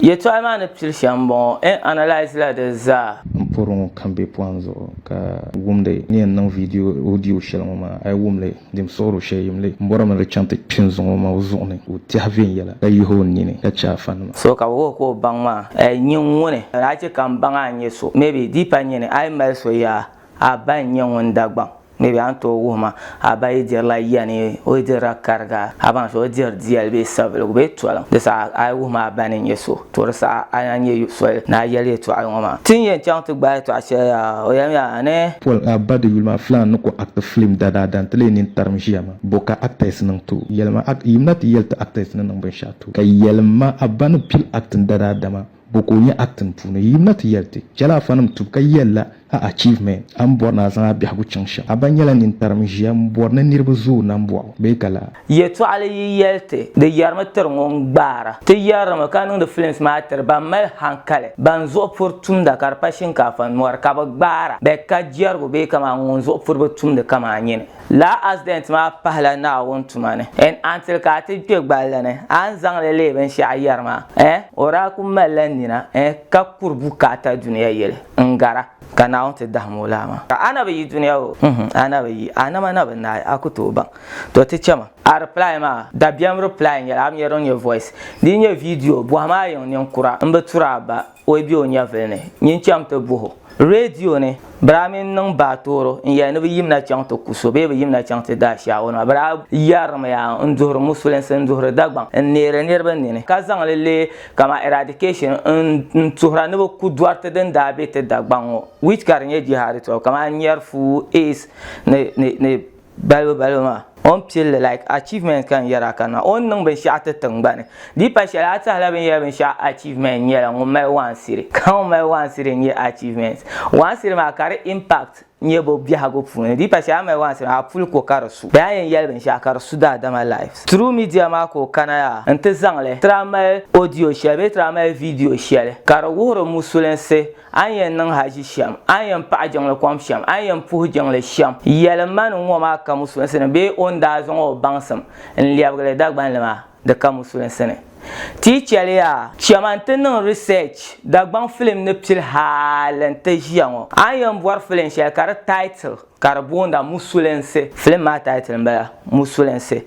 Yɛtɔɣa maa ni pili shɛm m-bɔŋɔ, N analyse la di zaa. N pɔri ŋɔ kam bɛ pɔhim zuɣu ka wumdi ni yɛn niŋ video audio shɛli ŋɔ maa, a yi wum li di mi suɣiri o shɛli yim li. M bɔri mi di chaŋ ti kpi n zuŋɔ maa o zuɣu ni ka o tɛhi viɛnyɛla ka yihi o nini ka che a fanima. So ka bɛ wuhi ka o baŋ ma a, N nyin ŋuni? A chɛ ka m baŋ a n nyɛ so? Maybe di pa n nyini a yi mali so yaa, a ba n-nyɛ ŋun Dagbaŋ. Ni bɛ a ni tooi wuhi ma, a ba yi dirila yani, o yi dirila kariga, a baŋ so o diri diyali bee sabiligu bee toliŋ, di saha a yi wuhi ma a ba ni nyɛ so, to di saha a ni a nyɛ soli ni a yɛli yɛtɔɣili ŋɔ maa. Ti ni yɛn chaŋ ti gbaai yɛtɔɣa shɛli yaa? O yɛlimiya, a ni. Pol a ba di yuli maa filaan ni ko act filim dadaa da nti lee nini tarim ʒiya maa, bo ka actors niŋ ti o? Yɛlima act, yimina ti yɛli ti actors ni niŋ binshɛɣu ti o, ka yɛlima a ba ni pili acting dadaa dama. Bo ka o nya acting puuni? Yi na ti yɛli ti, chɛla afanim tubu ka yɛli la a achievement. A ni bɔri ni a zaŋ a biɛhigu chaŋ shɛm, a ba nyɛla nintarim n-ʒiya m-bɔri ni niriba zooi nambɔɣu bee ka laa. Yɛtɔɣili yi yɛli ti, di yɛrimi tiri ŋun gbaara. Ti yɛrimi ka niŋdi films maa tiri ban mali hankali, ban zuɣu puri tumda ka di pa shinkaafa ni mɔri ka bɛ gbaara bɛ ka jɛrigu bee kaman ŋun zuɣu puri bi tumdi kaman nyini. Lala asidɛnt maa pahila Naawuni tuma ni. N a ni ti ka a ti kpe gballi ni, a ni zaŋ li leei binshɛɣu yɛri ma? Eh, o daa kul malila nina, eh, ka kuri bukaata dunia yɛli n-gara, ka Naawuni ti dahim o laa maa. Ka a na bi yi dunia o? Uhum, a na bi yi. A nama na bi naai, a ku tooi baŋ. Tɔ, ti chɛma. A reply maa, dabiɛm reply n-nyɛli, a bi nya din nyɛ voice. Di yi nyɛ video, bɔhim a yiŋ ninkura, m bi turi a ba. O yi be o nyɛvili ni, nyin chaŋ ti buh o radio ni, biri a mini niŋ baatooro n-yɛli ni bɛ yimina chaŋ ti ku so bee bɛ yimina chaŋ ti daai Shaawonima, biri a yɛrimi ya n-duhiri Musulinsi, n-duhiri Dagbaŋ, n-neeri niriba nini, ka zaŋ li leei kaman eradication n-tuhira ni bɛ ku dɔriti din daa be ti Dagbaŋ ŋɔ, which ka di nyɛ jihaadi tɔbu kaman nyɛri fuu, aids ni Balibu balibu maa. O ni pilli like achievement ka n yɛri a kanna o ni niŋ binshɛɣu ti tiŋgbani. Di pa shɛli a tahila bini yɛri binshɛɣu achievement nyɛla ŋun mali waansiri ka ŋun mali waansiri n-nyɛ achievement. Waansiri maa ka di impact nyɛ bo biɛhigu puuni. Di pa shɛli a mali waansiri maa a puli ko ka di su. Bee a yɛn yɛli binshɛɣu ka di su daadama lives. Through media maa ka o kana yaa n-ti zaŋ li tiri a mali audio shɛli bee tiri a mali video shɛli ka di wuhiri musulinsi A ni yɛn niŋ haʒi shɛm, a ni yɛn paɣi jiŋli kom shɛm, a ni yɛn puhi jiŋli shɛm, yɛli ma ni ŋɔ maa ka musulinsi ni bee o ni daa zaŋ o baŋsim n-lɛbigili Dagbanli maa di ka musulinsi ni. Ti yi chɛli yaa, chɛma nti niŋ research Dagbaŋ film ni pili hali nti ʒiya ŋɔ, a ni yɛn bɔri film shɛli ka di title ka di boonda musulinsi, film maa title m-bala musulinsi,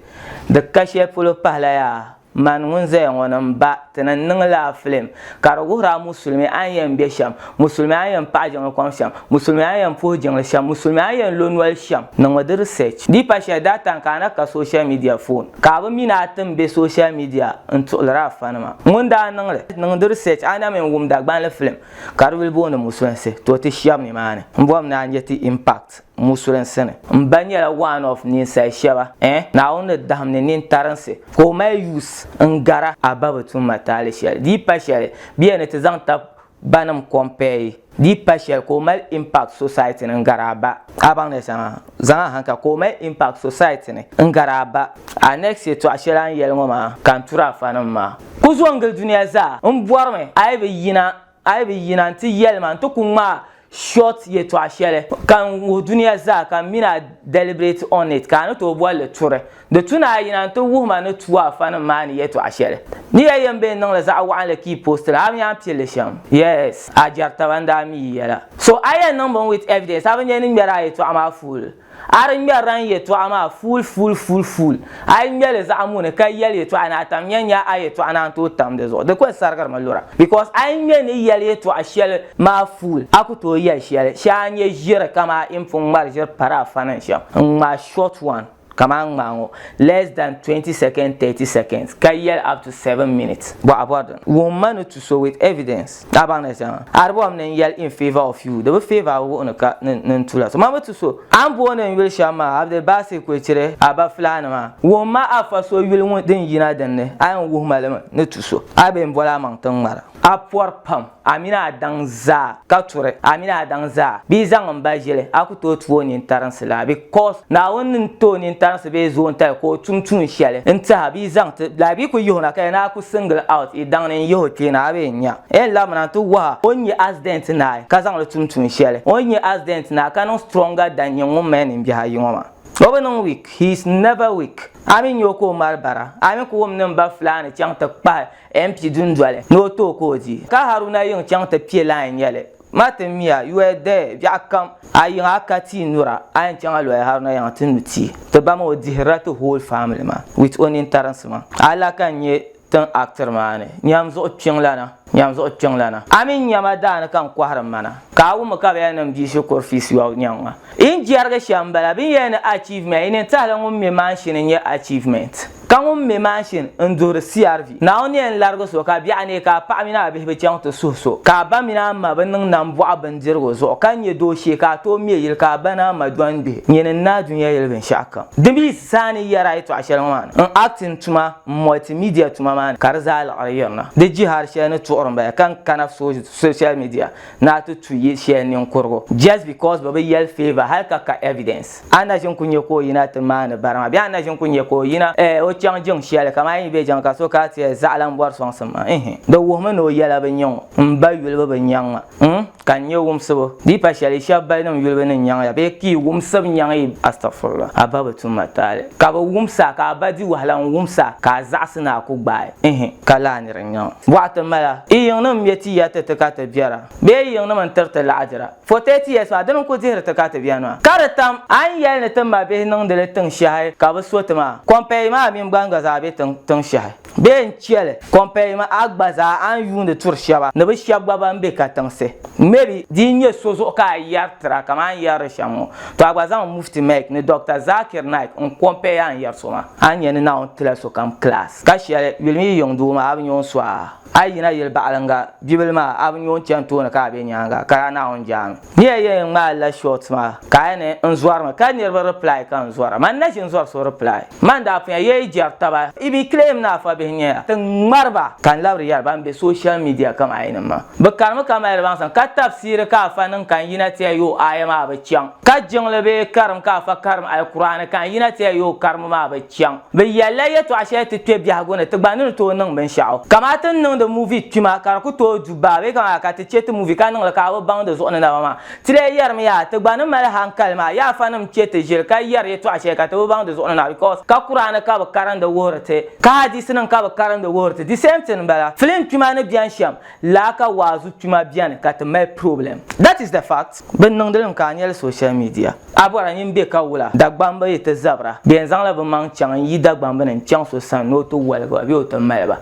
di ka shɛli polo pahila yaa. Man ŋun zaya ŋɔ ni m ba ti ni n-niŋ la filim ka di wuhir a musulimi a ni yɛn be shɛm, musulimi a ni yɛn paɣi jiŋli kom shɛm, musulimi a ni yɛn puhi jiŋli shɛm, musulimi a ni yɛn lo noli shɛm. Niŋmi di research. Di pa shɛli daa tani ka a na ka social media foon ka a bi mi ni a ti m-be social media n-tuɣilir a fanima. Ŋun daa niŋ li, niŋ di research a na mi n-wum Dagbanli filim ka di yuli booni Musulinsi, to ti shɛb nimaani. M bɔri ni a nya ti impact. musurin sani. M ba nyɛla one of ninsali shɛba eh Naawuni ni dahim ni nintarinsi ka o mali use n gara a ba bi tum ma taali shɛli di yi pa shɛli bɛ yɛn ni ti zaŋ tab banim compare yi di yi pa shɛli ka o mali impact society ni n gari a ba a baŋ ni zaŋa zaŋ a hankali ka o mali impact society ni n gari a ba a next yɛltɔɣa shɛli a ni yɛli ŋɔ maa ka n turi a fanim maa ku zo n gili duniya zaa m bɔrimi a yi bi yina A yi bi yina nti yɛli ma nti ku ŋmaa short yɛtɔɣa shɛli ka n wuhi dunia zaa ka m mini a deliberate on it ka a ni tooi boli li turi. Di tu ni a yina nti wuhi ma ni tuui a fanim maa ni yɛtɔɣa shɛli. Ni ya yɛn bee niŋli zaɣ waɣinli ka yi post li, a bi nya n pili li shɛm? Yes! A jɛri taba n daa mi yi yɛla. So a yɛn niŋ bini with evidence? A bi nya ni ŋmɛri a yɛtɔɣa maa fool? A di ŋmɛrila n yɛtɔɣa maa fuul fuul fuul fuul, a yi ŋmɛ li zaɣ muuni ka yɛli yɛtɔɣa ni a tam ya n-nya a yɛtɔɣa ni a ni tooi tam di zuɣu, di kuli sarigiri mi lura. Because a yi ŋmɛ ni yɛli yɛtɔɣa shɛli maa fuul, a ku tooi yɛli shɛli, shee a nya ʒiri kamaa yi ni pun ŋmari ʒiri pari a fani ni shɛm, n-ŋmaai short one kaman n ŋmaa ŋɔ, less than twenty seconds, thirty seconds, ka yɛli up to seven minutes, bɔɣa bɔri din wuhim ma ni tu so with evidence. Ka a baŋ ni shɛŋa a di bɔhim ni n-yɛli in favour of you di bi favour a wuhi ni ka ni n tu la so. Mami ti so a ni booni n yuli shɛm maa Abdulbasit Kwechiri a ba Fulani maa. Wuhim ma a fa so yuli ŋun din yina din ni a yɛn wuhi ma li mi ni tu so. A bee m-boli a maŋ ti n ŋmara. A pɔri pam a mini a daŋ zaa ka turi a mini a daŋ zaa bee zaŋ m ba ʒili a ku tooi tu o nintarinsi la because. Naawuni ni ti o nintarinsi bee zoontali ka o tum tuun shɛli n-tihi a bee zaŋ ti, like bɛ ku yihi o na ka ya ni a ku single out i daŋ ni n yihi o kpee na a bee n-nya. N labina nti wuhi a o ni nyɛ accident naai ka zaŋ li tum tuun shɛli. O ni nyɛ accident naai ka niŋ stronger than nyini ŋun mali ninbihi ayi ŋɔ maa. O bi niŋ weak, he is never weak. A mi nya o ka o mali bara, a mi ku wum ni m ba Fulaani chaŋ ti kpahi MP dundoli ni o ti o ka o di. Ka Haruna yiŋ chaŋ ti piɛ line nyɛli Ma ti mi a, yɔya daya biɛɣu kam. A yiŋa a ka tia nura, a yɛn chaŋ a lɔya Haruna yiŋa ti nu tia. Ti ba maa o dihirila ti whole family maa with o nintarinsi maa. A la ka n nyɛ tin actiri maa ni nyam zuɣu kpiŋlana, nyam zuɣu kpiŋlana. A mini nyama daa ni ka n kɔhiri m ma na. Ka a wummi ka bɛ yɛn niŋ bia shikuru feast yɔbu nyaŋ ma. Yi ni jɛrigi shɛm m-bala, bɛ ni yɛli ni achievement, yi nintahili ŋun mi maanshini n-nyɛ achievement. Ka ŋun me maʒini n-duhiri CRV. Naawuni yɛn larigi so ka biɛɣu neei ka a paɣa mini a bihi bi chaŋ ti suhi so, ka a ba mini a ma bi niŋ nambɔɣu bindirigu zuɣu, ka nya dooshee ka a tooi me yili ka a ba ni a ma dɔni bihi, nyini n-naai dunia yili binshɛɣu kam. Di mi zaa ni yɛri a yɛtɔɣa shɛli ŋɔ maa ni, n acting tuma, m multimedia tuma maa ni ka di zaa liɣiri yirina. Di jihari shɛli ni tuɣiri m-bala ka n kana social media ni a ti tu yi shɛli ninkurigu just because bɛ bi yɛli favour hali ka ka evidence. A na ʒi n-ku nya ka o yina ti maani bara maa bee a na ʒi n-ku nya ka o yina eh o chaŋ jiŋ shɛli kamani a yi be jiŋ ka so ka ti eh zaɣila m-bɔri sɔŋsim maa ihi di wuhimi ni o yɛla bi nya ŋɔ m ba yulibu bi nyaŋ ma mm ka n nya wumsibu di yi pa shɛli shɛb balinim yulibu ni nyaŋ ya bee ka yi wumsib nyaŋ yi astɔfurula a ba bi tum ma taali ka bi wumsi a ka a ba di wahala n wumsi a ka a zaɣisi ni a ku gbaai ihi ka laa nir nyaŋ bɔɣa ti mala i yiŋnim me ti ya ti ti ka ti biɛra bee i yiŋnim n-tir ti laɣidira. For thirty years maa dini n kuli dihiri ti ka ti beni maa? Ka di tam a ni yɛli ni ti mabihi niŋdi li tiŋ shɛhi ka bi so ti maa? Compare maa mini ban gba zaa be tiŋ shɛhi bee n cheli compare maa a gba zaa a ni yuuni turi shɛba ni bi shɛba gba ban be katiŋsi maybe di yi nyɛ so zuɣu ka a yɛri tira kaman n yɛrili shɛm ŋɔ to a gba zaŋ Mufti Mike ni Doctor Zakir Naik n compare a ni yɛri so maa a ni nya ni Naawuni tila sokam class ka shɛli yuli mi yi yiŋ doo maa a bi nya o ni so a A yi yina yili baɣilinga bibila maa, a bi nyo n-chani tooni ka a be nyaaŋa, ka yaa Naawuni jaami. Ni a yɛn ŋmaai la short maa, ka a yɛn ni, N zɔrimi, ka niriba reply ka n zɔra. Man na ʒi n-zɔri so reply. Man daa punya yɛi jɛri taba. Yi bi claim ni a fabihi n-nyɛ ya, ti ŋmari ba. Ka n labiri yɛri ban be social media kaman a yinim maa, bɛ karimi ka mali baŋsim, ka tafsiri ka afa niŋ ka n yina ti a yo aya maa bi chaŋ, ka jiŋli bee karim ka afa karim Alkur'aani ka n yina ti a yo karimi maa bi Chaŋ bɛ yɛlila yɛtɔɣ shɛli ti kpe biɛhigu ni ti gba ni ni tooi niŋ binshɛɣu. Kaman ti ni niŋdi muvi kpima ka di ku tooi du baa bee kaman ka ti chɛ ti muvi ka niŋ li ka a bi baŋ di zuɣu ni naba maa. Ti lee yɛrimi yaa ti gba ni mali hankali maa yaa afanim chɛ ti ʒiri ka yɛri yɛtɔɣ shɛli ka ti bi baŋ di zuɣu ni naba because ka Kuraani ka bɛ karindi wuhiri ti ka hadiisinim ka bɛ karindi wuhiri ti di same thing m-bala. Filim kpima ni beni shɛm laa ka waazu tuma bɛni ka ti mali problem that is the fact bɛ niŋdi li mi ka a nyɛli social media a bɔra nyin bɛ ka wula Dagbamba yi ti zabira bɛ yɛn zaŋla bɛ maŋ chaŋ n yi Dagbamba ni n chaŋ so sani ni o ti waligi ba bee o ti mali ba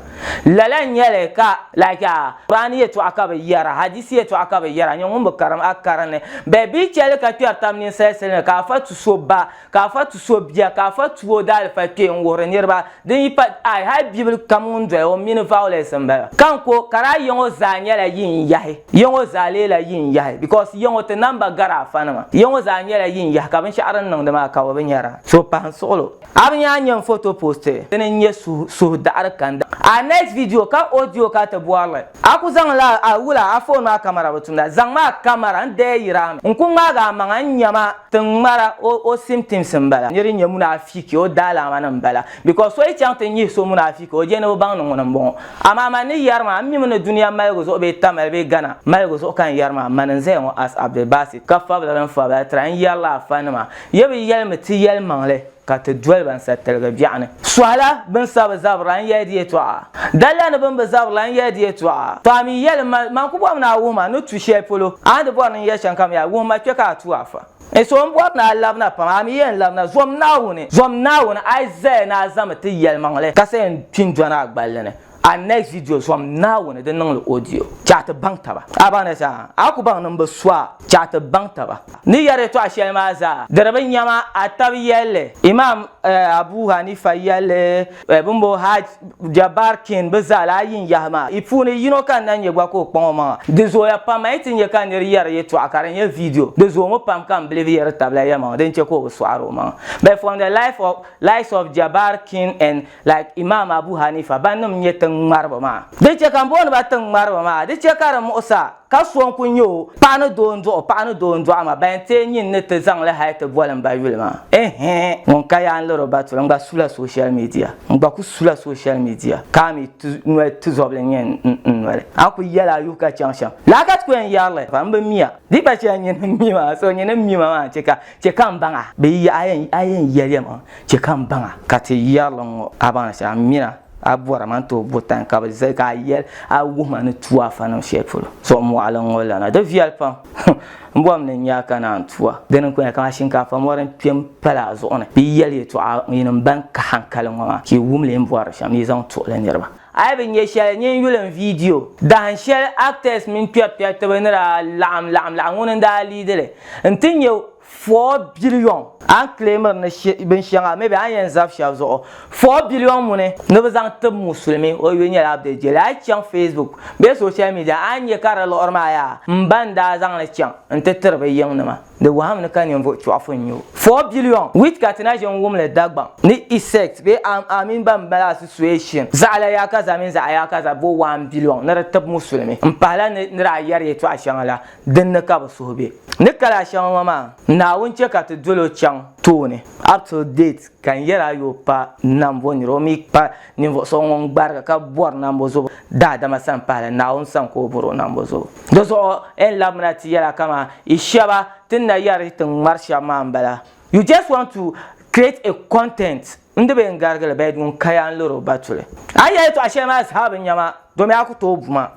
lala n nyɛli ka like a Qur'ani yɛtɔɣa ka bɛ yɛra Hadisi yɛtɔɣa ka bɛ yɛra nyin ŋun bi karim a karini bɛ bi chɛli ka kpɛri tab ninsali sili ni ka a fa tu so ba Ka afa tu so bia, ka afa tu o daalifali kpee n-wuhiri niriba. Din yi pa I, hali bibili kam ŋun doya o mini violence m-bala. Ka n ko, ka daa yiŋɔ zaa nyɛla yin yahi? Yiŋɔ zaa leela yin yahi because yiŋɔ ti namba gari afanima. Yiŋɔ zaa nyɛla yin yahi ka binshɛɣu din niŋdi maa ka bɛ bi nya daa. So pahim suɣilo. A bi nyaa nya n photo post? Dini n-nyɛ suhu daɣiri kanda. Our next video, ka audio ka ti bɔri li. A ku zaŋ la a wula a foon maa kamara bi tumda? Zaŋ ma a kamara n daya yiri a mi. N ku ŋmaag a maŋa n nya ma ti ŋmara o o simtims n bala. Nir nya munaafiki o daalaama ni n bala. Bikos so yi chaŋ ti nyihi so munaafiki o je ni bi baŋ ni ŋuni n bɔŋɔ. Amaa man ni yari ma, n mi mi ni dunia maligu zuɣu bee Tamale bee Ghana maligu zuɣu ka n yari maa, man n zaya ŋɔ as Abdulbasit ka fabila din fabila tira n yari la a fanima. Ye bi yɛli mi ti yɛlimaŋli. ka ti doli ba n-sa tiligi biɛɣu ni. Sɔhila bɛ ni sa bi zabirila n-yɛli di yɛtɔɣa. Dalila ni bɛ ni bi zabirila n-yɛli di yɛtɔɣa. To a mi yɛli ma, man ku bɔrimi ni a wuhi ma ni tu shɛli polo. A ni di bɔri ni n yɛli shɛm kam yaa, wuhi ma kpe ka a tu a fa. N so n bɔri ni a labina pam, a mi yɛn labina. Zom Naawuni! Zom Naawuni! Aizaia naa zami ti yɛlimaŋli, ka sa yɛn kpi n-dɔni a gballi ni. A next video zuɣu Naawuni di niŋli audio che a ti baŋ taba. A baŋ ni zaa a ku baŋ ni m bi su a che a ti baŋ taba. Ni yɛri yɛtɔɣa shɛli maa zaa diri bi nyama a tab yɛlli. Imaam Abu Hanifa yɛlli bɛ ni bo Hajj Jabbar King bɛ zaa lahi yi n yahi maa yi puuni yino ka n na nya gba ka o kpaŋ o maŋa. Di zooya pam a yi ti nya ka nir yɛri yɛtɔɣa ka di nyɛ video di zoomi pam ka m bilifu yɛri tabila yɛlimaŋli din che ka o bi sɔɣiri o maŋa. But from the life of likes of Jabbar King and like Imaam Abu Haniifa bannim nyɛ tiŋ ŋmariba maa. Di chɛ ka m booni ba tiŋ ŋmariba maa, di chɛ ka di muɣis a ka so n-kul nyɛ o paɣ ni doo n-dɔɣ o paɣ ni doo n-dɔɣ ma ban teei nyin ni ti zaŋ li hal ti boli m ba yuli maa. Ɛhɛɛ! Ŋun ka yaa n-liri o ba tuli, n gba sula social media. N gba kul sula social media ka a mi ti noli tizɔbili n-nyɛ n noli. A kul yɛla a yuhi ka chaŋ shɛm. Lala ka ti ku yɛn yɛri li pam, m bi mi a. Di gba chɛ a nyini m mi ma, so nyini m mi ma maa n-chɛ ka Chɛ ka m baŋ a. Bɛ yi yɛli, A yɛn yɛli yɛlima, chɛ ka m baŋ a. Ka ti yɛri li ŋ-ŋɔ a baŋ shɛli, a mi a, a bɔri a ma nti o bo tani ka bɛ zali ka a yɛli a wuhi ma ni tu a fanim shɛli polo. Zuɣu mɔɣili ŋ-ŋɔ lana, di viɛli pam. Hum! M bɔri mi ni n nya a ka naan tu a. Di ni kuli nyɛla kaman shinkaafa mɔri n-kpe m-pali a zuɣu ni. Bɛ yi yɛli yɛtɔɣa yinim bɛn ka haŋkali ŋɔ maa, ka yi wum li yi ni bɔri shɛm, yi zaŋ tuhi li niriba. A yi bi nya shɛli, nyin yuli n viidiyo. Dahin shɛli actors mini kpɛri kpɛritiba ni daa laɣim laɣim laɣ ŋuni n daa leadi li nti nyɛ four billion. A ni claimiri ni binshɛŋa maybe a ni yɛn zab shɛb zuɣu. Four billion ŋuni ni bi zaŋ tib musulimi o yuli nyɛla bɛ jeli. A yi chaŋ facebook bee social media a ni nya ka di liɣiri maa yaa m ba n daa zaŋ li chaŋ nti tiri bɛ yiŋnima. Di wahim ni ka ninvuɣ chɔɣifu n-nyɛ o. Four billion wheat ka ti na ʒe n-wum li Dagbaŋ ni Isect bee Am Am mini ban mali association zaɣ la yaakaza mini zaɣ yaakaza bo one billion ni di tib Musulimi m-pahi la ni ni daa yɛri yɛtɔɣ shɛŋa la, din ni ka bɛ suhu be. Ni kali a shɛŋa ŋɔ maa, Naawuni chɛ ka ti dol o chaŋ tooni up till date. ka n yɛl a yo pa nambɔ nir o mi pa ninvuɣ so ŋun gbarigi ka bɔri nambɔ zobo daadama sani pahila Naawuni sani ka o bɔr o nambɔ zobo. Di zuɣu N labimina ti yɛl a kaman yi shɛba ti ni na yɛri ti ni ŋmari shɛm maa m-bala. You just want to create a content n di be n garigili bed ŋun kaya n-liri o batuli. A yi yɛli yɛtɔɣ shɛli maa zaa bi nya ma, Domi a ku tooi buma,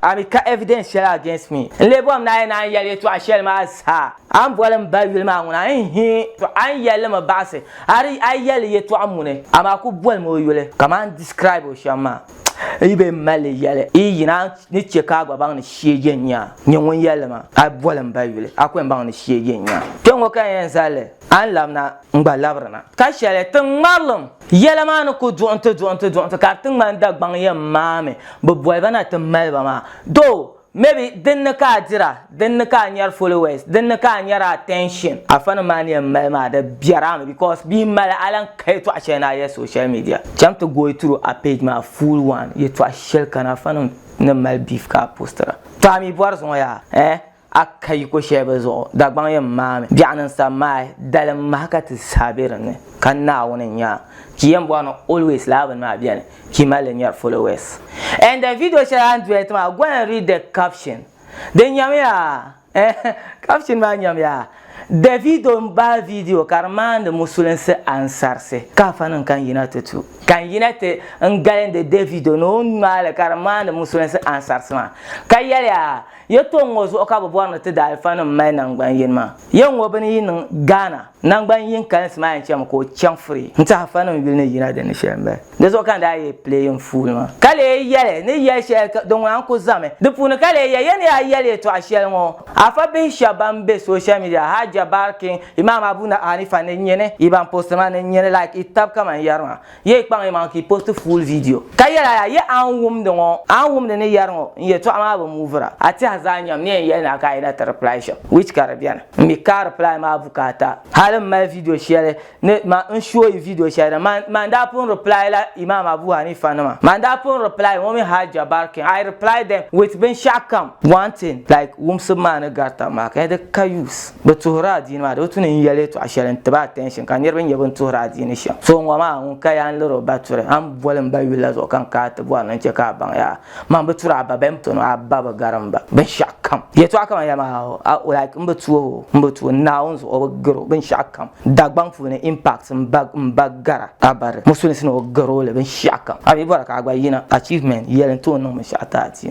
a mi ka evidence shɛli against me. N lee bɔhim ni a yɛn naan yɛli yɛtɔɣ shɛli maa zaa. A ni boli m ba yuli maa ŋuna? N-he! Tɔ! A ni yɛli li mi baɣisi, a di a yɛli li yɛtɔɣ muni, amaa a ku boli mi o yuli kaman n describe o shɛm maa. N yi be m-mali li yɛli, yi yina a ni chɛ ka a gba baŋ ni shege n-nya n-nyɛ ŋun yɛli li maa. A boli m ba yuli, a ku yɛn baŋ ni shege n-nya. Kpɛŋŋo ka n yɛn zali li, a ni labina. n-gba labirina. Ka shɛli ti ŋmarilim. Yɛla maa ni ku duɣinti duɣinti duɣinti ka di ti ŋmani Dagbaŋ yɛn maami bɛ boli ba na ti mali ba maa. Though, maybe din ni ka a dira, din ni ka a nyari followers, din ni ka a nyari attention. Afanim maa ni yɛn mali maa di biɛra mi because bɛ yi mali a lan ka yɛtɔɣ shɛli ni a yɛli social media. Cham ti going through a page maa full one, yɛtɔɣ shɛlikana afanim ni mali beef ka a postira. Tɔ a mi bɔri zuŋɔ yaa eh! a ka yi ko shɛli bɛ zuɣu, Dagbaŋ yɛn maami biɛɣu ni n-sa maai dalim maha ka ti saha be dinni, ka Naawuni n-nya a. Ki yɛn bɔri ni always lala bini maa beni, ki mali li nyari followers. And the video shɛli a ni duhiri ti maa, go and read the caption. Di nyamiya eh, caption maa nyamiya, Davido m-bahi video ka di maandi musulinsi ansarisi, ka afa nim ka n yina ti tu. Ka n yina ti n galindi Davido ni o ni ŋmaai li ka di maandi musulinsi ansarisi maa, ka yɛliya, Yɛltɔɣ ŋɔ zuɣu ka bɛ bɔri ni ti daalifanim mali naŋgban yini maa. Yɛl ŋɔ bɛ ni yi niŋ Ghana naŋgban yini kalinsi maa yɛn chɛmi ka o chaŋ Furi nti Hafanim yuli ni yina di ni shɛli m-bala. Di zuɣu ka n daa yɛli pileeyiŋ fuuli maa. Ka lee yɛli ni yɛl shɛli ka din ŋuna n-ku zami di puuni ka lee yɛli ya ni yaa yɛli yɛltɔɣ shɛli ŋɔ. Afa bihi shɛba ban be social media, Hajja, Barking, Imaam Abu Hanifa ni nyini yi ban posti ma ni nyini like yi tab kaman yɛri maa. Ye yi kpaŋ yimaŋa ka yi post full video. Ka yɛli a yaa, Ye a ni wumdi ŋɔ, a ni wumdi ni yɛri ŋɔ, n yɛtɔɣa maa bi move-ra. A tɛha zaa nyam ni yɛn yɛli ni a ka a yi na ti reply shɛm, which ka di beni. M mi ka a reply maa bukaata. Hali m mali video shɛli ni man n show yi video shɛli din man man daa pun reply la Imaam Abu Hanifa nima. Man daa pun reply ŋɔ mini Hajja Barkin. I reply them with binshɛɣu kam. One thing, like wumsibu maa ni gari tab maa ka di ka use. Bi tuhiri adiini maa di bi tu ni n yɛli yɛtɔɣa shɛli n tiba attention ka niriba nyɛ bin tuhiri adiini shɛm. So ŋɔ maa ŋun ka yaa n liri o ba turi a ni boli m ba yuli la zuɣu ka n kaai ti bɔri ni n chɛ ka a baŋ yaa man bi turi a ba bɛn pini o a ba bi gari m ba binshɛɣu kam yɛtɔɣa kamani ya maa ho a like m bi tu o m bi tu o Naawuni zuɣu o bi gari o binshɛɣu kam Dagbaŋ puuni impact m ba m ba gara a ba di musulinsi ni o gari o li binshɛɣu kam a mi bɔra ka a gba yina achievement yɛli n ti o niŋ binshɛɣu ti adiini.